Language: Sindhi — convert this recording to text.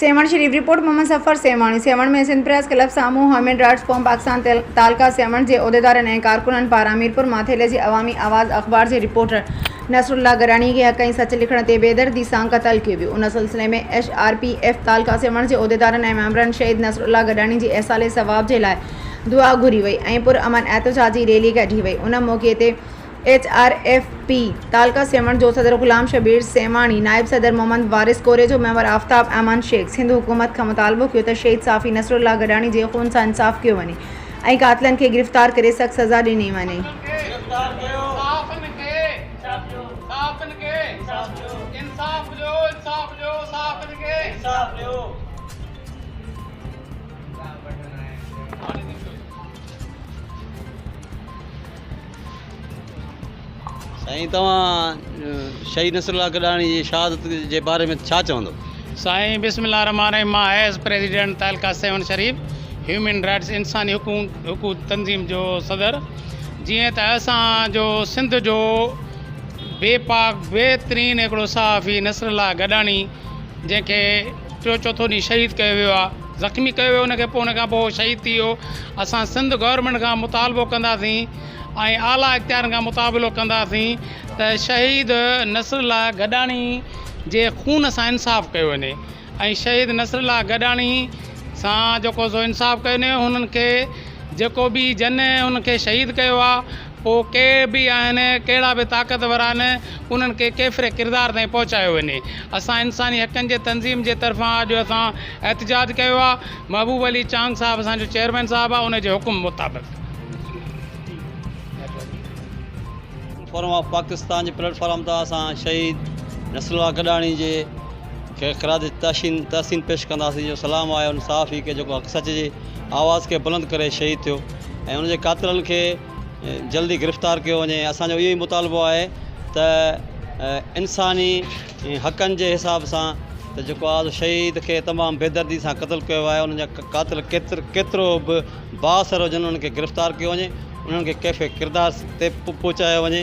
Sehwan Sharif, report Muhammad Zafar Sehwani, Sehwan ۾ Sindh press club سامهون human rights forum Pakistan taluka Sehwan جي عهديدارن ۽ ڪارڪنن پاران ميرپور ماٿيلي جي عوامي آواز اخبار جي رپورٽر نصر الله گراڻي کي حق ۽ سچ لکڻ تي بي دردي سان قتل ڪيو ويو ان سلسلي ۾ H R P F taluka Sehwan جي عهديدارن ۽ ميمبرن شهيد نصر الله گڏاڻي جي ايصال ثواب جي لاء دعا گهري وئي ۽ پر امن احتجاجي ريلي ڪڍي وئي ان موقعي تي H R F P taluka Sehwan جو صدر غلام شبير سيوهاڻي، نائب صدر محمد وارث ڪوري جو ميمبر آفتاب ايمان شيخ سنڌ حڪومت کان مطالبو ڪيو ته شهيد صافي نصر الله گڏاڻي جي خون سان انصاف ڪيو وڃي ۽ قاتلن کي گرفتار ڪري سخت سزا ڏني وڃي. سائين توهان شهيد نصر الله گڏاڻي جي شهادت جي باري ۾ ڇا چوندو؟ سائين بسم الله الرحمٰن الرحيم مان as president taluka Sehwan Sharif human rights انساني حقوق تنظيم جو صدر جيئن ته اسان جو سنڌ جو بي پاڪ بهترين هڪڙو صحافي نصر الله گڏاڻي جنهن کي ٽيون چوٿون ڏينهن شهيد ڪيو ويو آ زخمي ڪيو ويو ان کي پوء ان کان پوء شهيد ٿي ويو اسان سنڌ گورنمينٽ کان مطالبو ڪنداسين ۽ اعليٰ اختيارن کان مطابلو ڪنداسين ته شهيد نصر الله گڏاڻي جي خون سان انصاف ڪيو وڃي ۽ شهيد نصر الله گڏاڻي سان جيڪو سو انصاف ڪيو وڃي هنن کي جيڪو به جن هن کي شهيد ڪيو آ پوء ڪي به آهن، ڪهڙا به طاقتور آهن، انهن کي ڪيفر ڪردار تائين پهچايو وڃي. اسان انساني حقن جي تنظيم جي طرفان اڄ اسان احتجاج ڪيو آهي. محبوب علي چانگ صاحب اسان جو چيئرمين صاحب آهي، ان جي حڪم مطابق. فورم آف پاڪستان جي پليٽ فارم تان اسان شهيد نصر الله گڏاڻي جي کي خراج تحسين پيش ڪنداسين جو سلام آهي ان صحافي کي جيڪو حق سچ جي آواز کي بلند ڪري شهيد ٿيو ۽ ان جي قاتلن کي جلدي گرفتار ڪيو وڃي اسان جو اهو ئي مطالبو آهي ته انساني حقن جي حساب سان ته جيڪو آز شهيد کي تمام بيدردي سان قتل ڪيو آهي انهن جا قاتل ڪيتر ڪيترو به بااثر هجن انهن کي گرفتار ڪيو وڃي انهن کي ڪيفي ڪردار تي پهچايو وڃي